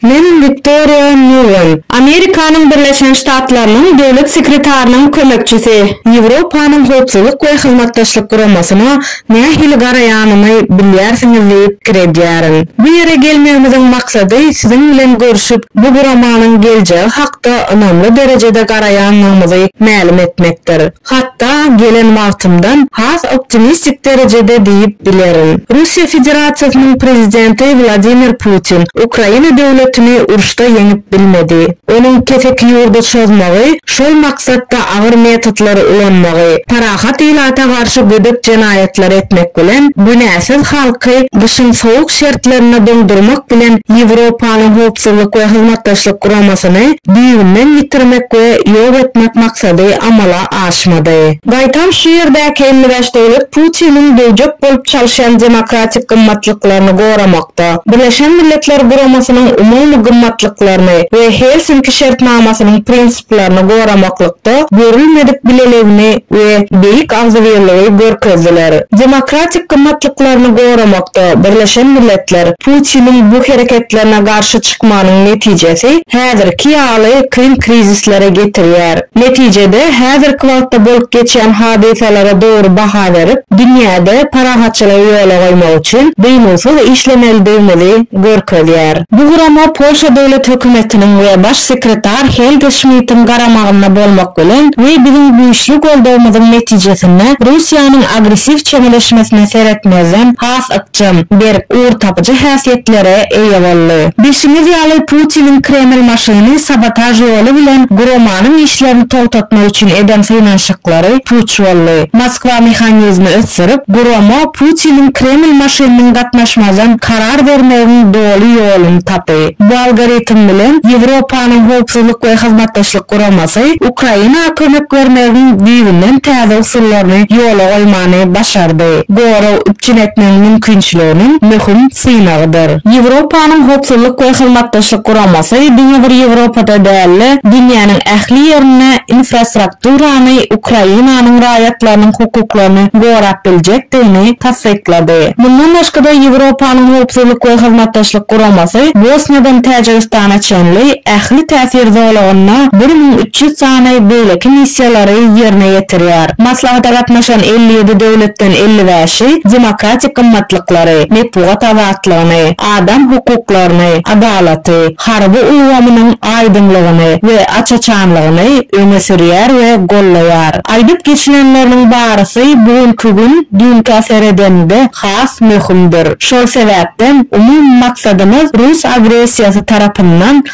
Men Wiktoriýa Nulen, Amerikanyň Birleşen Ştatlarynyň Döwlet sekretarynyň kömekçisi, Ýewropanyň Howpsuzlyk we Hyzmatdaşlyk Guramasyna Nähili garaýanymy bilýärsiňiz diýip pikir edýärin. Bu ýere gelmegimiziň maksady siziň bilen görşüp, bu guramanyň geljegi hakda ynamly derejede garaýandygymyzy mälim etmekdir. Hatda gelen wagtymdan has optimistik derejede diýip bilerin. Russiýa Federasiýasynyň Prezidenti Wladimir Putin Ukraina döwletini uruşda ýeňip bilmedi. Onuň keseki ýurda çozmagy şol maksatda agyr metodlary ulanmagy, parahat ilata garşy gödek jenaýatlary etmek bilen, günäsiz halky gyşyň sowuk şertlerinde doňdurmak bilen Ýewropanyň Howpsuzlyk we Hyzmatdaşlyk Guramasyny düýbünden ýitirmek we ýok etmek maksady amala aşmady. Gaýtam şu ýerdäki elli bäş döwlet Putiniň döwjek bolup çalyşýan demokratik gymmatlyklaryny goramak, nokatda, Birleşen Milletler Guramasynyň umumy gymmatlyklaryny we Helsinki şertnamasynyň prinsiplaryny goramaklykda görülmedik bileligini we beýik agzybirligi görkezdiler. Demokratik gymmatlyklaryny goramakda Birleşen Milletler Putiniň bu hereketlerine garşy çykmagynyň netijesi häzirki ýaly kyn krizislere getirýär. Netijede, häzirki wagtda bolup geçýän hadysalara dogry baha berip, dünýäde parahatçylygy ýola goýmak üçin dynuwsyz işlemelidigimizi görkezýär. Bu gurama Polşa Döwlet hökümetiniň we Baş sekretar Helge Şmitiň garamagynda bolmak bilen we biziň güýçli goldawymyzyň netijesinde Russiýanyň agressiw çemeleşmesine seretmezden has jam berip ugurtapyjy häsiýetlere eýe boldy. Bilşiňiz ýaly, Putiniň Kreml maşyny sabotaž ýoly bilen guramanyň işlerini togtatmak üçin eden synanyşyklary puç boldy. Moskwa mehanizmi ösdürip, gurama Putiniň Kreml maşynynyň gatnaşmazdan karar bermegiň doly ýoluny tapy. Bu algoritm bilen Ýewropanyň Howpsuzlyk we Hyzmatdaşlyk Guramasy Ukraina kömek bermegiň düýbünden täze usullaryny ýola goýmany başardy. gorag üpjün etmegiň mümkinçiliginiň möhüm synagydyr. Ýewropanyň Howpsuzlyk we Hyzmatdaşlyk Guramasy diňe bir Ýewropada däl-de, dünýäniň ähli ýerinde infrastrukturany Ukrainanyň raýatlarynyň hukuklaryny gorap biljekdigini tassyklady. Mundan başga-da, Ýewropanyň Howpsuzlyk we Hyzmatdaşlyk Guramasy Bosniýadan Täjigistana çenli ähli täsir zolagynda bir müň üç Şu sany beýleki missiýalary ýerine ýetirýär. Maslahata gatnaşan elli ýedi döwletden elli bäşi demokratik gymmatlyklary, metbugat azatlygyny, adam hukuklaryny, adalaty, harby ulgamynyň aýdyňlygyny we aç-açanlygyny öňe sürýär we gollaýar. Aýdyp geçilenleriniň barysy bu günki gün düýnkä seredeniňde has möhümdir. Şol sebäpden umumy maksadymyz rus agressiýasy tarapyndan,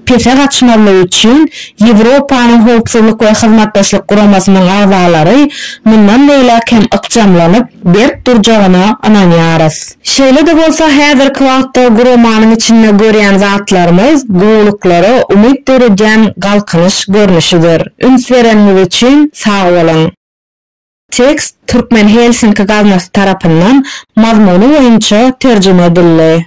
pese gaçmazlygy üçin Ýewropanyň Howpsuzlyk we Hyzmatdaşlyk Guramasynyň agzalary mundan beýläk hem ykjamlanyp, berk durjagyna ynanýarys. Şeýle-de bolsa, häzirki wagtda guramanyň içinde görýän zatlarymyz gowulyklara umyt döredýän galkynyş görnüşidir. Üns bereniňiz üçin sag boluň! Tekst Türkmen Helsinki gaznasy tarapyndan mazmuny boýunça terjime edildi.